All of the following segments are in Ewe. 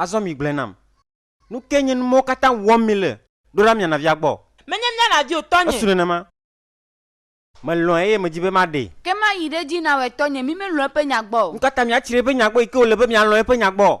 Azɔ migblɔe nam. Nu kae nye nu mawo katã wɔm mile? Ɖo ɖa miana via gbɔ. Menye miana vi o, Tɔnye. Esu nenema. Melɔ̃e eye medi be maɖee. Ke mayi ɖe edzi nawɔe, Tɔnye. Mi melɔ̃ eƒe nya gbɔ o. Nu ka ta miatsri eƒe nya gbɔ yi ke wòle be mialɔ̃ eƒe nya gbɔ?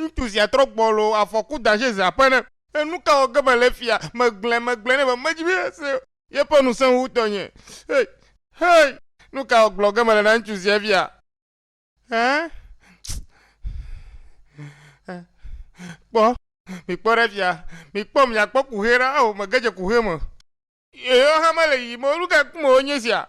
ŋutsu sia trɔ gbɔlo afɔku daje ze aƒe ne enu ka wɔ ge mele fia megblẽ megblẽ ne be medzi be se yeƒe nu sẽŋu wu tɔnye hey hey nu ka wɔ gblɔ ge mele na ŋutsu sia fia hein kpɔ mikpɔ ɖe fia mikpɔ miakpɔ kuhɛ ɖa o mege dze kuhɛ me yeyewo hã mele yiyim o nu ka ku me wonye sia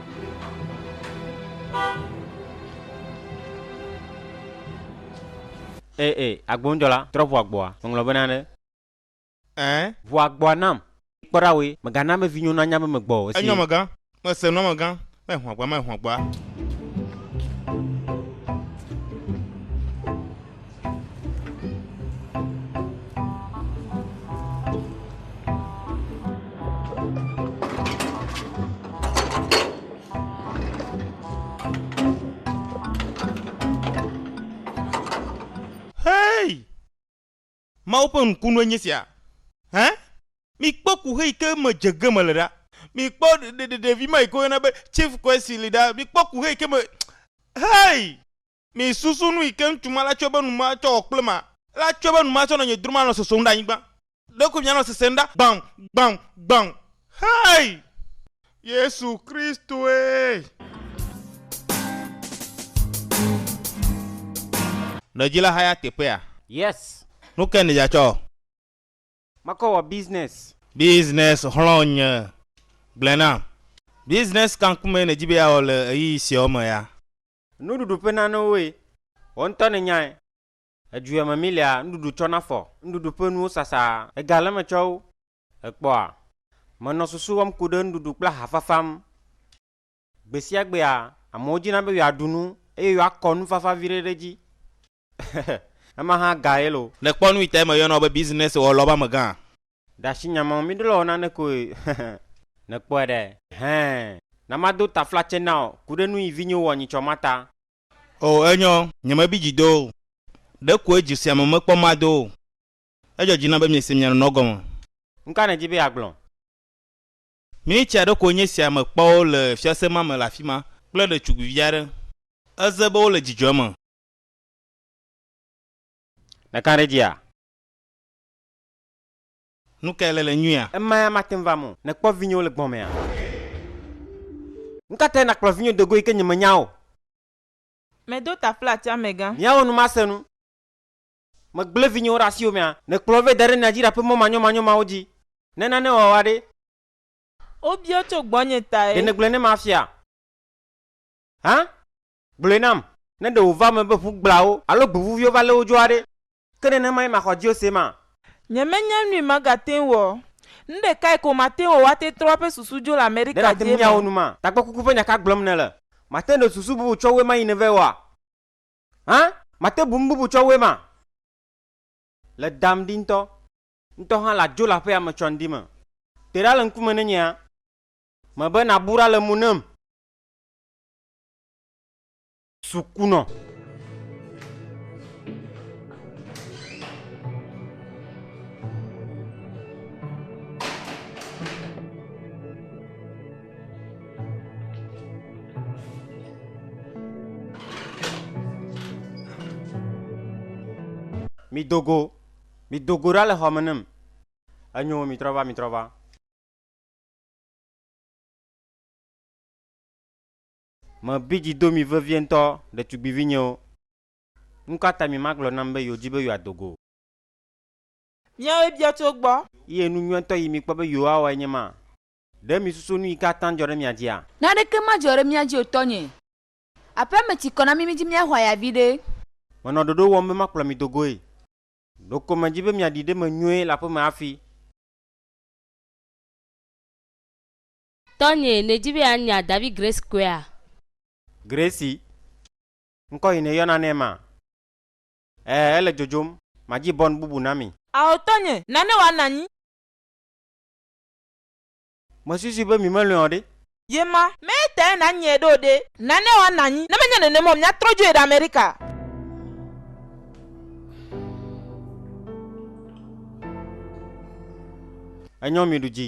Ee, ee, agbonudzɔla, trɔ ʋu agboa. Meŋlɔ be nane. Ɛɛ. Ʋu agboa nam. Kpɔ ɖa woe. Mègana be vinyewo nanya be megbɔ o. Esi. Enyo, amegã. Mese nu, amegã. Mɛ ʋu agboa, mɛ ʋu agboa. Mawu ƒe ŋkunue nye sia. Hẽ? Mikpɔ kuxe yi ke me dze ge mele ɖa. Mikpɔ ɖevi ma yi ke woyɔna be Chief Kwesi li ɖa. Mikpɔ kuxe yi ke me. Hey! Misusu nu yi ke ŋutsu ma la tsɔe be nu ma tsɔ wɔ kple ma. La tsɔe be nu ma tsɔ nɔ nye drom anɔ sosom ɖe anyigba. Ɖekoe mianɔ sesem ɖa gbaŋ, gbaŋ, gbaŋ. Hey! Yesu Kristoe! Ne edzi la haya teƒea. Yes. Nu kae nèdze atsɔ? Makɔ wɔ business. Business xlɔ̃ nye. Gblɔe nam. Business ka ŋkumee nèdi be yeawɔ le ɣeyiɣi siawo me ya? Nuɖuɖu ƒe nanewoe. Wò ŋutɔ nènyae. Edzuea me milia nuɖuɖu tsɔ na fɔ. Nuɖuɖu ƒe nuwo sasa. Ega le eme tsɔ wo. Èkpɔa? Menɔ susu wɔm ku ɖe nuɖuɖu kple aha fafa ŋu. Gbesiagbea, amewo dina be yewoaɖu nu eye yewoakɔ nufafa viɖe ɖe edzi. Ema hã gaye lo. Nèkpɔ nu yi tae meyɔna wò be business wɔlɔ ƒe amegã? Ɖe asi nya mawo míɖo le wɔ nane koe. Nèkpɔe ɖe? Hẽ, na mado taflatse na wò. Ku ɖe nu yi vinyo wɔ nyitsɔ ma ta. O, enyo. Nyemebi dzi do o. Ɖekoe dzi sia me mekpɔ ma do o. Edzɔ dzi nam be miese mia nɔnɔ gɔme. Nu ka nèdi be yeagblɔ? Minitsi aɖe koe nye esia mekpɔ wo le fiase ma me le afi ma kple ɖetugbivi aɖe. Eze be wole dzidzɔe me. Nèka ɖe edzia? Nu kae le le nyuia? Ema ya mate ŋu va mɔ. Nèkpɔ vinyewo le gbɔ̃ mea? Nukatae nàkplɔ vinye do go yi ke nyemenya o? Medo taflati amegã. Míawɔ nu masenu. Megblẽ vinyewo ɖe asiwò mea? Nèkplɔ wo vɛ da ɖe nya dzi ɖaƒe mɔ manyomanyo mawo dzi? Ne nane wɔ woa ɖe? Wobia tso gbɔnye tae. Ɖe nègblɔe ne mafia? Hã? Gblɔe nam, ne ɖe wòva eme be ƒu gblawo alo gbevuviwo va lé wo dzoa ɖe? Ke nenemae maxɔ Diose ma. Nyemenya nui magate ŋu wɔ. Nu ɖekae ko mate ŋu wɔ woate trɔ eƒe susu dzo le Amerika Ɖe nate ŋu dziemeɔ? miawɔ nu ma? Takpekuku ƒe nya ka gblɔm nèle? Màte ŋu ɖe susu bubu tsɔ wue ma yi nèvɛ oa? Hã? Màte bu nu bubu tsɔ wue ma? Le dam ɖi ŋutɔ. Ŋutɔ hã ladzo le aƒea me tsɔndi me. Te ɖa le ŋkume ne nyea? Mebe nàbu ɖa le mo nam. Sukunɔ. Mi dogo, mi dogo ɖa le xɔ me nem. Enyo, mi trɔ va, mi trɔ va. Mebi dzi do mi vevie ŋutɔ, ɖetugbivinyewo. Nu ka ta mi magblɔ nam be yewodi be yewoado go o? Míawoe bia tso egbɔ. Ye nu nyuietɔ yi mikpɔ be yewowawɔe nye ma? Ɖe misusu nu yi ke ate ŋu adzɔ ɖe mia dzia? Naneke madzɔ ɖe mía dzi o, tɔnye. Aƒea me tsi kɔ na mí, midi míaxɔ aya viɖe. Menɔ ɖoɖo wɔm be makplɔ mi do goe. Ɖeko medi be miaɖi ɖe me nyuie le aƒe me hafi. Tɔnye, nèdi be yeanya David Grace Kwea? Gracie, ŋkɔ yi nèyɔna nɛ ma? Ɛɛ, ele dzodzom. Madzi bɔn bubu na mi. Ao tɔnye, nane wòanɔ anyi. Mesusui be mi melɔ̃e o ɖe? Ye ma. Mee tee nànyae ɖo ɖe? Nane wòanɔ anyi. Ne menye nenem o, míatrɔ dzoe ɖe Amerika. Enyɔ miɖu dzi.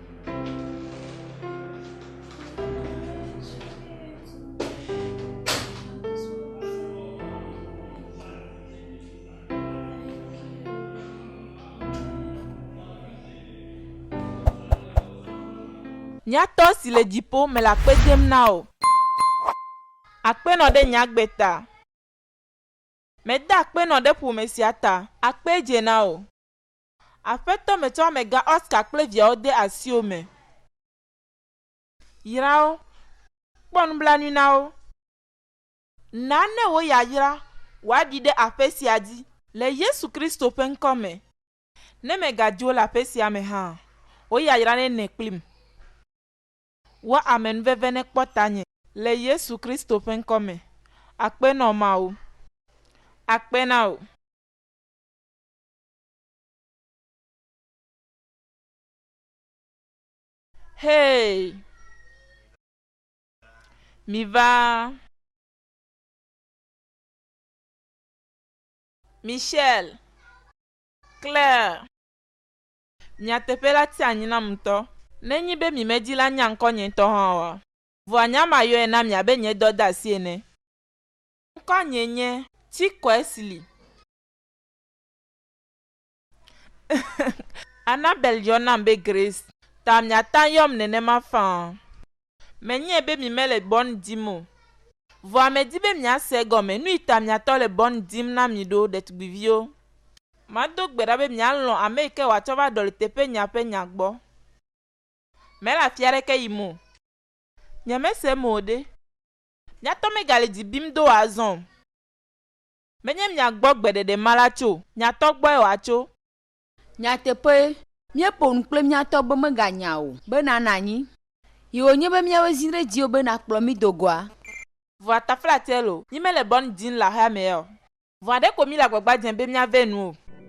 Nya tɔ si le dziƒo me le akpe dem na wò. Akpe nɔ ɖe nye agbe ta. Meda akpe nɔ ɖe ƒome sia ta. Akpe dze na wò. Aƒetɔ metsɔ amegã Oscar kple viawo de asiwò me. Yra wo. Kpɔ nublanui na wo. Na ne wò yayra wòaɖi ɖe aƒe sia dzi. Le Yesu Kristo ƒe ŋkɔ me. Ne mègadi wo le aƒe sia me hã, wò yayra nenɛ kplim. Wɔ amenuveve ne kpɔ tanye. Le Yesu Kristo ƒe ŋkɔ me. Akpe nɔ Mawu. Akpe na wò. Hey! Miva! Michelle! Claire! Nyateƒe la tia anyi nam ŋutɔ. Nenye be mi medi la nya ŋkɔ nye ŋutɔ hã oa? Vɔa nya ma yɔe na mi abe nye dɔdeasi ene. Ŋkɔ nye nye Chikwesley. Annabel yɔ nam be Grace, ta miatã yɔm nenema faa. Menyae be mi mele bɔn dim o. Vɔa medi be miase egɔme nui ta miatɔ le bɔn dim na mi ɖo, ɖetugbiviwo. Mado gbe ɖa be mialɔ̃ ameyike wòatsɔ va ɖɔli teƒe nya ƒe nya gbɔ. Mele afi aɖeke yim o. Nyemesem o ɖe. Miatɔ megale dzi bim do wòazɔ o. Menye miagbɔ gbeɖeɖe ma la tso. Nyatɔ gbɔe wòatso. Nyateƒee, míeƒo nu kple mía tɔ be meganya o, be nàna anyi. Yi wònye be míawoe zĩ ɖe dziwò be nàkplɔ mí do goa? Vɔ ataflatseɛ lo, nyi mele bɔn djin le axea mɛɛ ɔ? Vɔ aɖe ko míle agbagba djem be míavɛ nu o.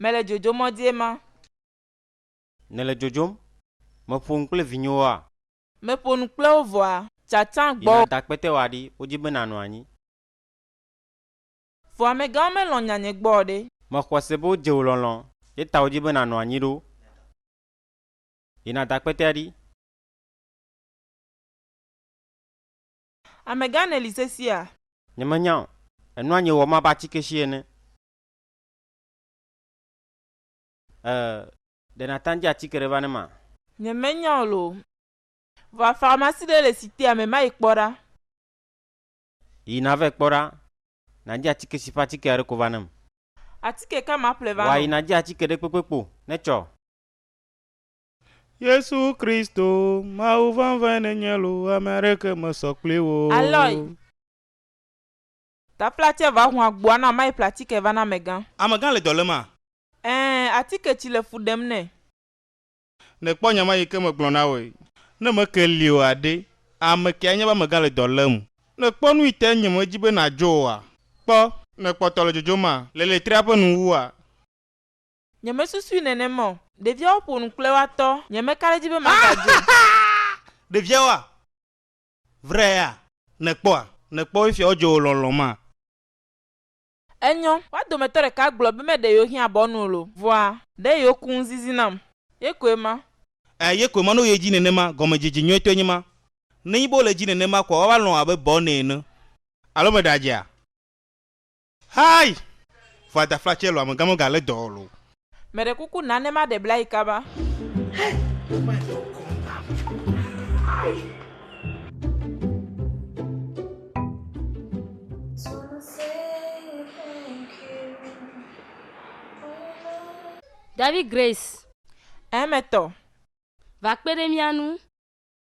Mele dzodzom mɔ dzie ma. Nèle dzodzom? Meƒo nu kple vinyewoa? Meƒo nu kple wo vɔa? Tsatsa gbɔwò. Yina dakpɛtɛwoa ɖi, wodi be nànɔ anyi. Vɔ amegãwo melɔ̃ nya nye gbɔ o ɖe. Mexɔ se be wodze wò lɔlɔ̃. Ye ta wodi be nànɔ anyi ɖo. Yina dakpɛtɛa ɖi. Amegã nèli sesia? Nyemenya o. Ènɔa nye wɔ me abe atike si ene. Ɛɛ, ɖe nàta ŋdi atike ɖe va ne ma? Nyemenya o loo. Vɔa farmasi ɖe le Sitea me, mayi kpɔ ɖa. Yi navɛ kpɔ ɖa. Nàdi atike si ƒe atike aɖe ko va nam. Atike ka maƒle va nɔ? Wòayi nàdi atike ɖekpekpe kpo ne tsɔ. Yesu Kristo, Mawu vɛnvɛn nènye loo, ame aɖeke mesɔ kpli wò o. Aloy! Taplatsɛ va hu agboa na mai platike va na amegã. Amegã le dɔ lém a? Ɛɛ, atike tsi le fu ɖem nɛ. Nè kpɔ nya ma yi ke me gblɔ na woe. Ne me ke li o a ɖe, ame kee anya be amegã le dɔ lém. Nè kpɔ nu yi te nye me dzi be na dzo o a? Kpɔ. Nè kpɔ tɔ le dzodzom a? Le letria ƒe nu wu a? Nye me susui nenema o. Ɖeviawo ƒo nu kple woa tɔ, nye me ka ɖe edzi be ma ga dzo. Ɖeviawo a? Vrea, nèkpɔa? Nèkpɔ efia wodzɔ wò lɔlɔ̃ maa? Enyɔ. Woa dometɔ ɖeka gblɔ be meɖe yewo hiã bɔ nu o lo. Vɔa. Ɖe yewo ku ŋuzizi nam. Ye koe ma. Ɛ, ye koe ma. No yedzi nenema. Gɔmedzedze nyuitɔe nye ma. Nenyi be wole edzi nenema koa, woava lɔ̃ abe bɔ nɛ ene. Alo meɖe adzea? Hayi! Vɔ adafla tsɛ lɔ amegã mega le dɔ ɔlo. Meɖe kuku na ne maɖe bla yi kaba. Hey! Woma yɔ kɔnam. David Grace. Ɛɛ, metɔ. Va kpe ɖe mía ŋu.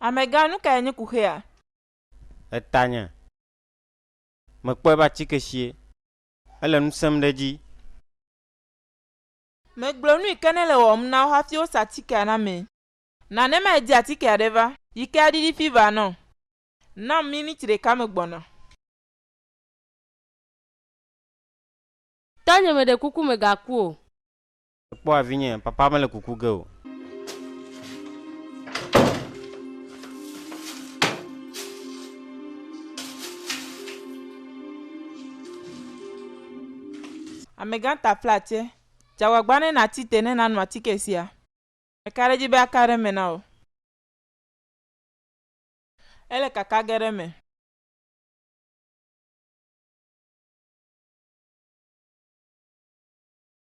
Amegã, nu kae nye kuxia? Etanye. Mekpɔe be atike sie. Ele nu sẽm ɖe edzi. Megblɔ nuyi ke nele wɔwɔm na wo hafi wosa atikea na mee. Na ne madi atikea ɖe va. Yi ke aɖiɖi fever nɔ. Nam miniti ɖeka megbɔna. Tanye meɖe kuku megaku o. Kpɔa vinye, papa mele kuku ge o. Amegã ta ƒle atse. Dze agbagba ne nàti te ne nàno atike sia. Meka ɖe edzi be aka ɖe eme na wò. Ele kaka ge ɖe eme.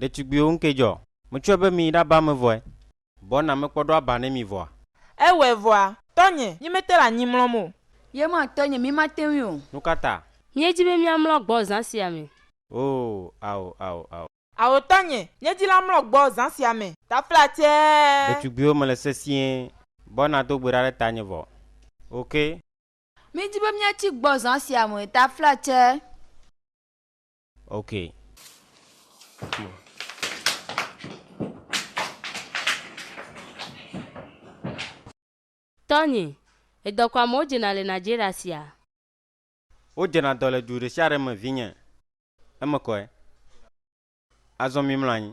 Ɖetugbiwo ŋkee dzɔ. Metsɔe be miyi ɖaba ame vɔe. Bɔ na mekpɔ ɖo aba ne mi vɔa. Ewɔe vɔa, tɔnye, nyi mete le anyi mlɔm o. Ye ma tɔnye, mi mate ŋui o. Nukata? Miedi be miamlɔ gbɔ zã sia me. Oo, ao, ao, ao. Ao tɔnye, nye dzila mlɔ gbɔ zã sia me. Taflatsɛɛ. Ɖetugbiwo mele sesĩe. Bɔ na do gbe ɖa ɖe tanye vɔ. Ok. Midi be miatsi gbɔ zã sia me. Taflatsɛɛ. Ok. Tony, Edɔ ko amewo dzena le Nigeria sia? Wodzena dɔ le du ɖesiaɖe me vinye. Eme kɔe. Azɔ mimlɔ anyi.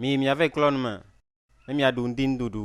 Miyi miave klɔ nu me ne miaɖu ŋdinuɖuɖu.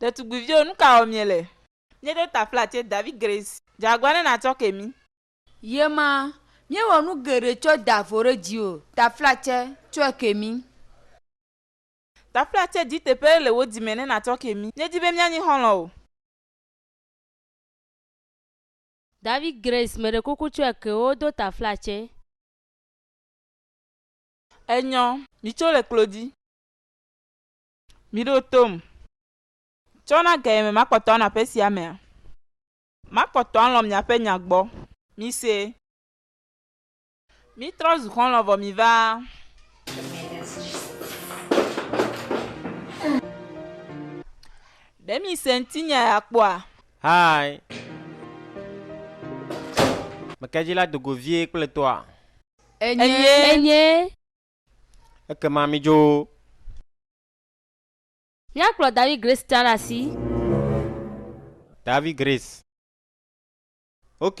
Ɖetugbuiviwo, nu ka wɔm miele? Míeɖo ta flatse David Grace. Dze agua ne nàtsɔ ke mí. Ɣema, míewɔ nu geɖe tsɔ da avɔ ɖe dziwò. Ta flatse, tsɔe ke mí. Ta flatse di teƒe le wò dzi me ne nàtsɔ ke mí. Míedi be míanyi xɔlɔ̃wo. David Grace meɖekoko tsɔe ke wo do tafla tsɛ. Enyɔ, mi tso le klodi. Mi ɖo tom. Tsɔ na ge yeme makpɔtɔ anɔ aƒe sia mea? Makpɔtɔ alɔ̃ miaƒe nya gbɔ. Mi se. Mítrɔ zu xɔlɔ̃ vɔ miva. Ɖe mise ŋutinye ya kpɔa? Hi. Meke dzi la do go vie kple toa? Enye. Ekema midzo. Míakplɔ Davi Grace tsã ɖe asi. Davi Grace. Ok.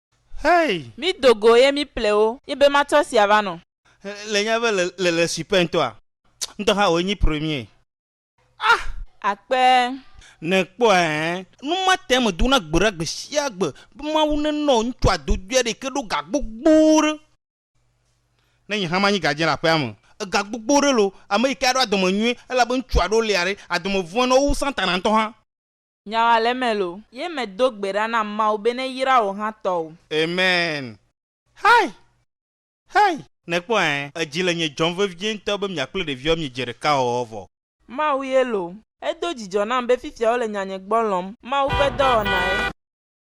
Hey! Mído go ye míple wo. Ye be matsɔ sia va nɔ. Le nya be le le super ŋtɔa. Ŋtɔ hã wòe nyi premier. Ah! Akpee. Ne kpɔ ɛɛ. Nu ma tɛ me dona gbe ɖa gbe sia gbe be Mawu ne nɔ ŋtsu adodui aɖe yike ɖo ga gbogbo ɖe. Ne nye hã manyi gadien le aƒea me. Ega gbogbo ɖe lo, ame yike aɖo adɔme nyuie elabe ŋtsu aɖewo lia ɖe adɔme vɔe nɔ wo wu Satana ŋtɔ hã. Nya wa le eme loo. Ye me do gbe ɖa na Mawu be ne yra wò hã tɔ o. Amen Hi Hi Nèkpɔ ɛɛ Edzi le nye dzɔm vevie ŋutɔ be mia kple ɖeviawo mie dze ɖeka wɔwɔ vɔ. Mawu ye loo. Edo dzidzɔ nam be fifia wole nyanye gbɔ lɔm. Mawu ƒe dɔwɔnae.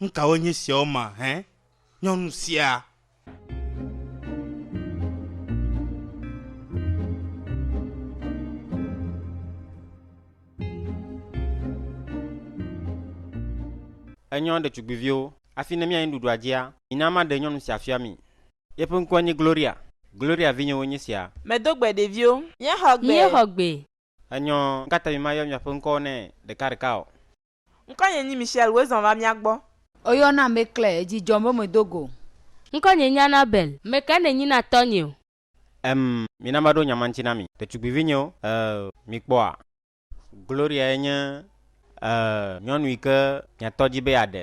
Nu kawoe nye esiawo ma hẽ, nyɔnu sia? Enyɔ ɖetugbiviwo, Hafi ne míayi nuɖuɖua dzia, mina maɖe nyɔnu sia fia mi. Yeƒe ŋkɔe nye Gloria. Gloria vinyewoe nye esia. Medo gbe ɖeviwo. Míexɔ gbe. Míexɔ gbe. Enyɔ, Nu ka ta mimayɔ miaƒe ŋkɔwo nɛ ɖekaɖeka o? Ŋkɔnye nyi Michelle woe zɔn va mía gbɔ. Oyɔ na mé klé edji djɔm be me do go. Ŋkɔnye nyi Annabel. Meke ne nyi na tɔ nyeo. Em, mina maɖo nya ma ŋti na mi. Ɖetugbivi nyeo, eew, mi kpɔa? Gloria ye nye, eew, nyɔnu yike mia tɔ dji be ya ɖe.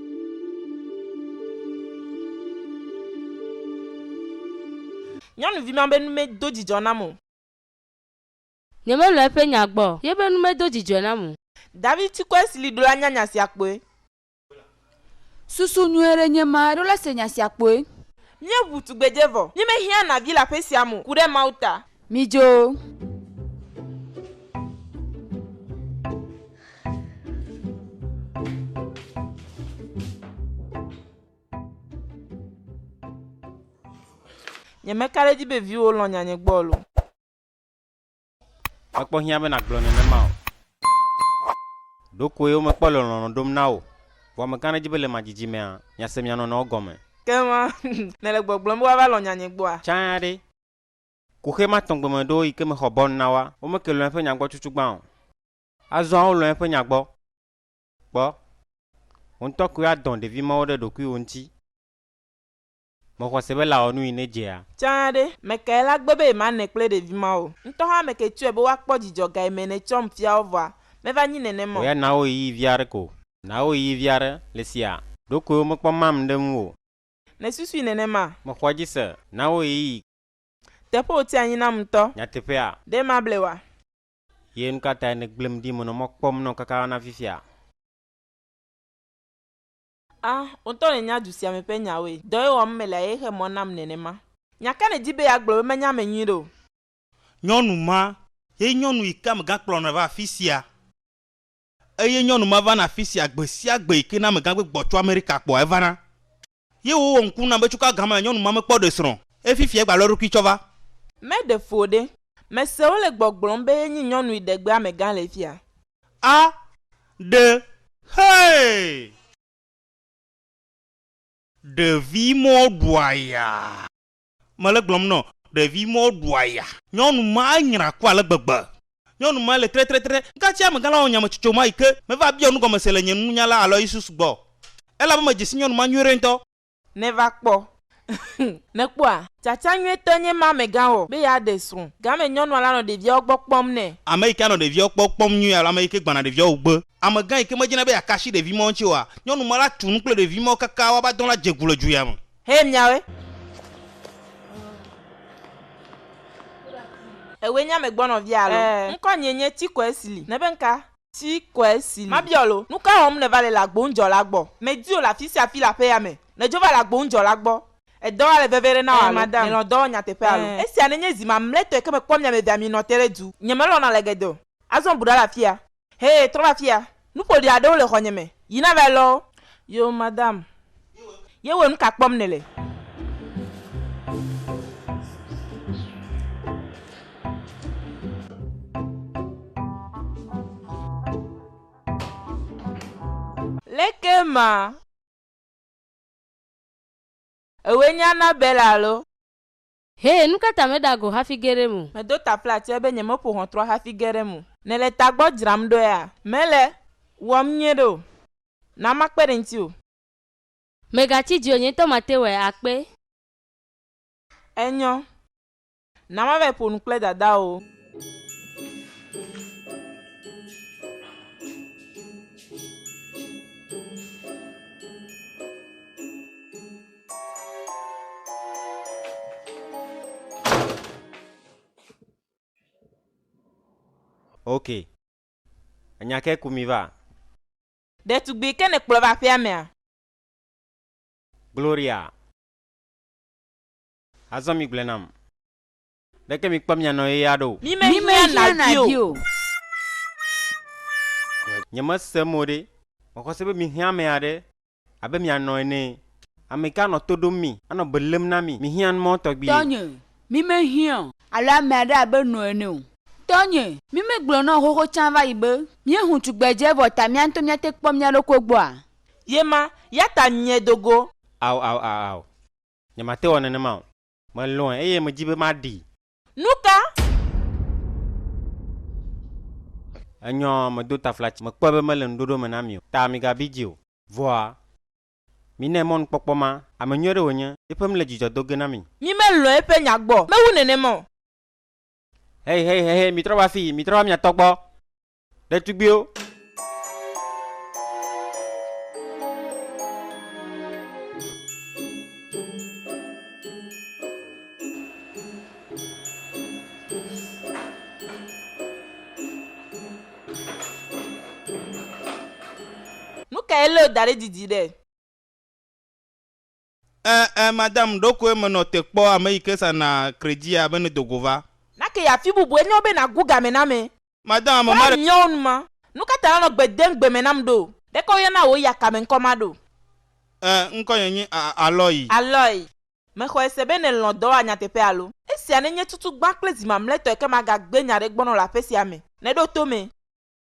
Nyɔnuvi ma be nu medo dzidzɔ nam o. Nyemelɔ̃ eƒe nya gbɔ o. Yeƒe nu medo dzidzɔe nam o. David ti kɔe si li ɖo la nya nya sia kpɔe. Susu nyui aɖe nye ma ɖo la se nya sia kpɔe. Míeʋu tugbedze vɔ. Míemehiã na vi le aƒe sia me o, ku ɖe Mawu ta. Midzo! Nyemeka ɖe edzi be viwò lɔ̃ nyanye gbɔ o. Mekpɔ hiã be nàgblɔ nenema o. Ɖokoe womekpɔ le lɔlɔ̃ ɖom na wò o. Vɔ meka ɖe edzi be le mía dzidzimea, mìase mía nɔnɔewo gɔme. Ke ma, nèle gbɔgblɔm be woava lɔ̃ nyanye gbɔa? Tsã ɖe, Kuxi ma tɔ̃ gbemeɖewo yi ke me xɔ bɔnu na woa? Wome ke lɔ̃ eƒe nya gbɔ tutu gbã o. Azɔa wolɔ̃ eƒe nya gbɔ. Kpɔ, wò ŋutɔ koe adɔ̃ ɖevi mawo ɖe ɖokuiwò ŋuti. Mèxɔ se be lã wɔ nu yi nedzea? Tsã ɖe, mekae lã gbe be yemanɔe kple ɖevi mawo? Ŋutɔ hã meke tsɔe be woakpɔ dzidzɔ ga yi me nètsɔm fia wo vɔa? Meva nyi nenema o. Oya na wo ɣeyiɣi vi aɖe ko. Na wo ɣeyiɣi vi aɖe. Le sia, ɖokoe womekpɔ mam ɖe ŋuwò o. Nèsusui nenema? Mexɔ edzi se. Na wo ɣeyiɣi. Teƒe wòti anyi nam ŋutɔ. Nyateƒea? Ɖe mable oa? Ye nukatae nègblẽm ɖi menɔ mɔ kpɔm nɔ kaka va na fifia? A! Wò ŋutɔ nènya du sia me ƒe nyawoe. Dɔe wɔm mele eye xe mɔ nam nenema. Nya ka nèdi be yeagblɔ be menya eme nyuiɖe o? Nyɔnu ma ye nyɔnu yi ke amegã kplɔ nɔ va afisia. Eye nyɔnu ma vana afisia gbe sia gbe yike na amegã gbegb tso America kpɔa evana. Ye wowɔ ŋku nam be tso ka gã mea nyɔnu ma me kpɔ ɖe srɔ̃ eye fifia egba lɔ eɖokui tsɔ va. Me ɖe fo ɖe. Me se wole gbɔgblɔm be ye nyi nyɔnui ɖegbe amegã le fia. A ɖe. Hey! Ɖevi mɔ ɖua ya. Mele gblɔm nɔ ɖevi mɔ ɖu aya. Nyɔnu ma nyra ku ale gbegbe. Nyɔnu ma le trɛtrɛtrɛ. Gacɛ amegã la wɔ nyametsotso ma yi ke meva biɔ nugɔmese le nye nunya la Aloysius gbɔ. Elabe medze si nyɔnu ma nyuiɖe ŋutɔ. Nèva kpɔ. Nèkpɔa? Tsatsa nyuitɔ nye ma amegã wɔ be yeaɖe srɔ̃. Game nyɔnua la nɔ ɖeviawo gbɔ kpɔm nɛ. Ame yi ke anɔ ɖeviawo gbɔ kpɔm nyuie alo ame yi ke gbana ɖeviawo wugbe. Amegã yi ke medzina be yeaka asi ɖevi mɔ ŋuti oa, nyɔnu ma la tu nu kple ɖevi mɔ kaka woava dɔ la dze gu le dzoya me. Hɛ miawe. Ewe nye ame gbɔ nɔvia alo? Ɛɛ. Ŋkɔ nye nye Tsikɔɛ Sili. Nebe ŋka? Tsikɔɛ Sili. Mabiɔ alo? Nuka wɔm nèva le le agboŋudzɔla gbɔ? Medi wò le afisiafi le aƒea me. Nèdzo va le agboŋudzɔla gbɔ. Edɔ wa le veve ɖe na wò alo? Ɛɛ, madam. Nèlɔ̃ dɔ wɔ nyateƒe alo? Ɛɛ. Esia nenye zi mamlɛtɔe ke mekpɔ miamevea mienɔ te ɖe du. Nyemelɔ̃na le geɖe o. Azɔ bu ɖa le afia. Hɛ, trɔ va fiya. Nu ƒoɖi aɖewo le xɔnye me. Yi na vae lɔwo. Yo, madame. Ye wɔ nuka kpɔm nèle? Leke ma? Ewoe nye Annabelle alo? Hɛ, nu ka ta mèɖa go hafi ge ɖe eme o? Medo ta ƒle atsɛe be nyemeƒo ʋɔtrɔ hafi ge ɖe eme o. Nèle tagbɔ dzram ɖoea? Mèle wɔm nyuie ɖe o. Na makpe ɖe ŋutiwò. Mègatsi dzi o, nye ŋutɔ mate wɔe akpe. Enyɔ. Na mavae ƒo nu kple dadawò. Ok. Enya ke ku mi va? Ɖetugbui ke nèkplɔ va aƒea mea? Gloria. Azɔ migblɔe nam. Ɖeke mi kpɔ mia nɔ ye ya ɖo. Mi me hiã na di o. Nye me se mo ɖe. Me xɔ se be mi hiã ame ya ɖe abe mia nɔ ene. Ame ka nɔ to ɖom mi, a nɔ be lém na mi. Mi hiã nu mɔ tɔgbi ye. Tɔnye, mi me hiã. Alo ame aɖe abe nɔ ene o. Tɔnye, mi me gblɔ nɔ xoxo tsã vayi be. Mie hu tugbedze vɔ ta mia ŋutɔ mia te kpɔ mia ɖokui gbɔ a? Ye ma, ya ta mie do go. Ao, ao, ao, ao. Nye ma te wɔ nenema o. Melɔ̃e eye medi be maɖee. Nu ka? Enyɔ medo taflatsi. Mekpɔe be mele ŋuɖoɖo me na mi o, ta migabi dzi o. Vɔa, minae mɔnukpɔkpɔ ma. Ame nyui aɖe wònye. Eƒe nu le dzidzɔ do ge na mi. Mi melɔ̃ eƒe nya gbɔ. Mewu nenema o. Hei, hei, hei, hei, mitrɔ va afii, mitrɔ va mia tɔ gbɔ. Ɖetugbiwo. Nu kae Leo da ɖe didi ɖe? Ɛ, ɛ, mada m ɖokue me nɔ te kpɔ ame yi ke sa na kredzia be ne do go va. Nake ya fi bubue nyɔ be na gu game na me. Mada ame ma Kpla ɖe. nyɔ ŋ ma. Nuka ta na nɔ gbe dem gbe me na m ɖo? Ɖekɔ yɔ na wò ya ka me ŋkɔ ma ɖo? Ɛ, ŋkɔ nye nyi a, a, Alɔyi. Alɔyi. Me xɔɛ se be nɛ lɔn dɔ wa nyateƒe alo? Esia ne nye tutu gbã kple zi mamlɛtɔe ke ma ga gbe nya ɖe gbɔ nɔ le aƒe sia me. Nɛ ɖo to me.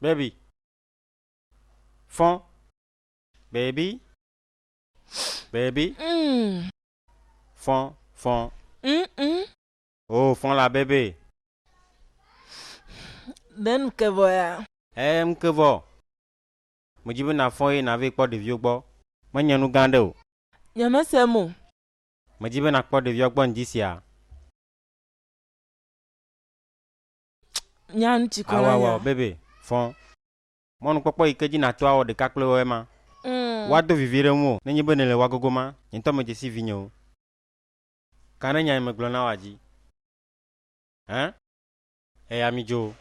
Baby, fɔ, baby, baby, Mm, fɔ, fɔ, mm, mm. oh fɔ la baby, Ɖe nu ke vɔ ya? eh nu ke vɔ, medzi be nàfɔ eye nàvee kpɔ ɖeviwo gbɔ, menye nu gã ɖe o. Nyemese mo. Medzi be nàkpɔ ɖeviawo gbɔ ŋdi sia. Nyan tsi kɔ la nya. bebe fɔ. Mɔnukpɔkpɔ yi ke dzi nàto awɔ ɖeka kple woe ma. Woado vivi ɖe ŋuwò ne nye be nèle wa gogo ma, nye ŋutɔ medze si vinyewo. Ka ne nya yi megblɔ na wòa dzi? Ẽ? Eya midzo.